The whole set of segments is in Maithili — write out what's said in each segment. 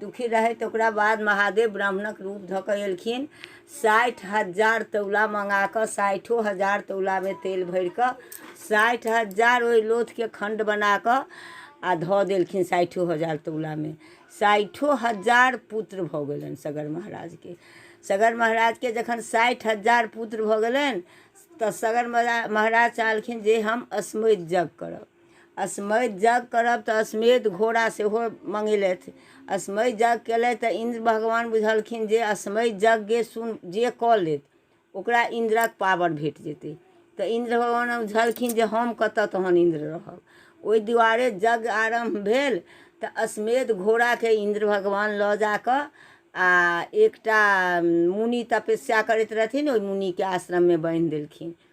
दुखी रहै तऽ ओकरा बाद महादेव ब्राह्मणक रूप धऽ कऽ एलखिन साठि हजार तौला मँगा कऽ साठिओ हजार तौलामे तेल भरि कऽ साठि हजार ओहि लोथके खण्ड बना कऽ आ धऽ देलखिन साठिओ हजार तौलामे साठिओ हजार पुत्र भऽ गेलनि सगर महाराजके सगर महाराजके जखन साठि हजार पुत्र भऽ गेलनि तऽ सगर महाराज चाहलखिन जे हम अस्मैत जग करब असमैत जग करब तऽ असमेत घोड़ा सेहो मंगेलथि असमैत जग केलथि तऽ इन्द्र भगवान बुझलखिन जे असमैत जगके सुन जे कऽ लेत ओकरा इन्द्रक पावर भेट जेतै तऽ इन्द्र भगवान बुझलखिन जे हम कतऽ तहन इन्द्र रहब ओहि दुआरे जग आरम्भ भेल तऽ असमेत घोड़ाके इन्द्र भगवान लऽ जाकऽ आ एकटा मुनि तपस्या करैत रहथिन ओहि मुनिके आश्रममे बान्हि देलखिन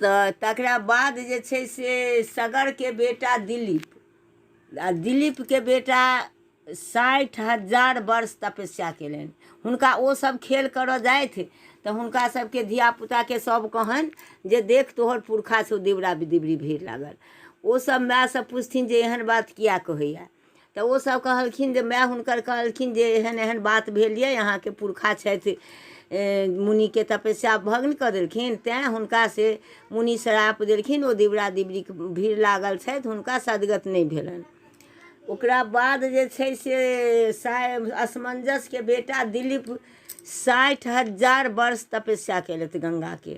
तऽ तकरा बाद जे छै से सगरके बेटा दिलीप आ दिलीपके बेटा साठि हजार वर्ष तपस्या केलनि हुनका ओ सब खेल करऽ जाथि तऽ हुनका सबके धियापुताके सब कहनि जे देख तोहर पुरखा से दिवरा दिवरी भीड़ लागल ओ सब मायसँ पुछथिन जे एहन बात किया कहैया तऽ ओ सब कहलखिन जे माय हुनकर कहलखिन जे एहन एहन बात भेल यऽ अहाँके पुरखा छथि मुनिके तपस्या भग्न कऽ देलखिन तैँ हुनका से मुनि श्राप देलखिन ओ दिवरा दिवरीक भीड़ लागल छथि हुनका सदगत नहि भेलनि ओकरा बाद जे छै से साय असमंजसके बेटा दिलीप साठि हजार वर्ष तपस्या केलथि गंगाके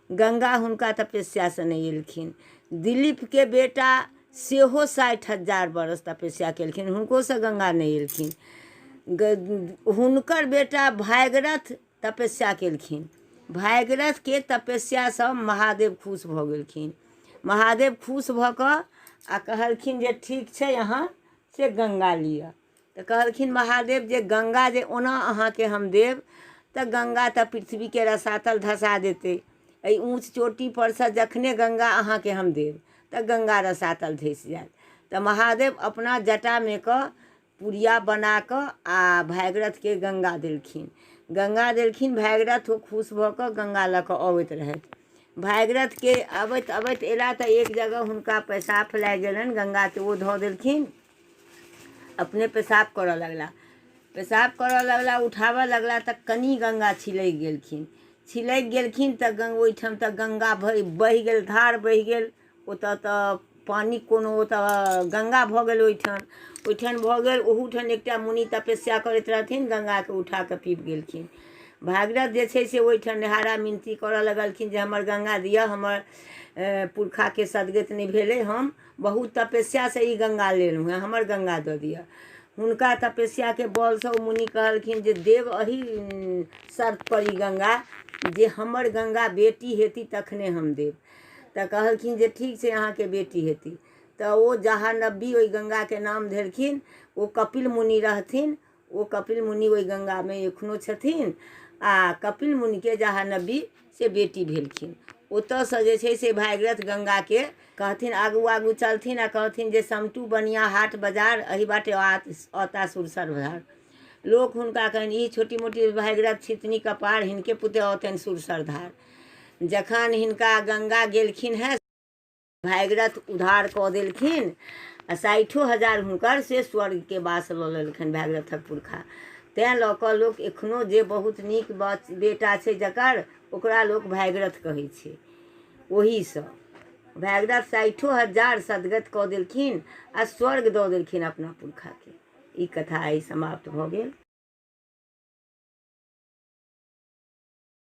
गंगा हुनका तपस्यासँ नहि एलखिन दिलीपके बेटा सेहो साठि हजार बरस तपस्या केलखिन हुनकोसँ गंगा नहि एलखिन हुनकर बेटा भागरथ तपस्या केलखिन भागरथके तपस्यासँ महादेव खुश भऽ गेलखिन महादेव खुश भऽ कऽ आ कहलखिन जे ठीक छै अहाँ से गंगा लिअ तऽ कहलखिन महादेव जे गंगा जे ओना अहाँके हम देब तऽ गंगा तऽ पृथ्वीके रसातल धसा देतै एहि ऊँच चोटी परसँ जखने गंगा अहाँके हम देब तऽ गंगा रसातल धसि जायत तऽ महादेव अपना जटामे कऽ पुड़िया बना कऽ आ भागीरथके गंगा देलखिन गंगा देलखिन भागीरथ ओ खुश भऽ कऽ गंगा लऽ कऽ अबैत रहथि भागीरथके अबैत अबैत अयला तऽ एक जगह हुनका पैसाब लागि गेलनि गंगाके ओ धऽ देलखिन अपने पेशाब करऽ लगला पेशाब करऽ लगला उठाबऽ लगला तऽ कनी गंगा छिलकि गेलखिन छिलकि गेलखिन तऽ गंग ओहिठाम तऽ गंगा भरि बहि गेल धार बहि गेल ओतऽ तऽ पानि कोनो ओतऽ गंगा भऽ गेल ओहिठाम ओहिठाम भऽ गेल ओहूठाम एकटा मुनि तपस्या करैत रहथिन गंगाके उठा कऽ पीब गेलखिन भागीरथ जे छै से ओहिठाम निहारा मिनती करऽ लगलखिन जे हमर गंगा दिअ हमर ए, पुरखाके सदगति नहि भेलै हम बहुत तपस्यासँ ई गंगा लेलहुँ हेँ हमर गंगा दऽ दिअ हुनका तपस्याके बलसँ ओ मुनि कहलखिन जे देव अही शर्तपर ई गंगा जे हमर गंगा बेटी हेती तखने हम देब तऽ कहलखिन जे ठीक छै अहाँके बेटी हेती तऽ ओ जहाँ नब्बी ओहि गंगाके नाम धेलखिन ओ कपिल मुनि रहथिन ओ कपिल मुनि ओहि गङ्गामे एखनो छथिन आ कपिल मुनिके जहाँ नबी से बेटी भेलखिन ओतऽसँ जे छै से भागीरथ गङ्गाके कहथिन आगू आगू चलथिन आ कहथिन जे समटू बनिया हाट बाजार एहि बाटे औता सुरसर भार लोक हुनका कहनि ई छोटी मोटी भागीरथ छितनी कपार हिनके पुते औतनि सुरसर धार जखन हिनका गङ्गा गेलखिन हेँ भागीरथ उधार कऽ देलखिन आ साठिओ हजार हुनकर से स्वर्गके वास लऽ लेलखिन भागीरथक पुरखा तैँ लऽ कऽ लोक एखनो जे बहुत नीक बच बेटा छै जकर ओकरा लोक भागीरथ कहै छै ओहीसँ भागीरथ साठिओ हजार सदगत कऽ देलखिन आ स्वर्ग दऽ देलखिन अपना पुरखाके ई कथा आइ समाप्त भऽ गेल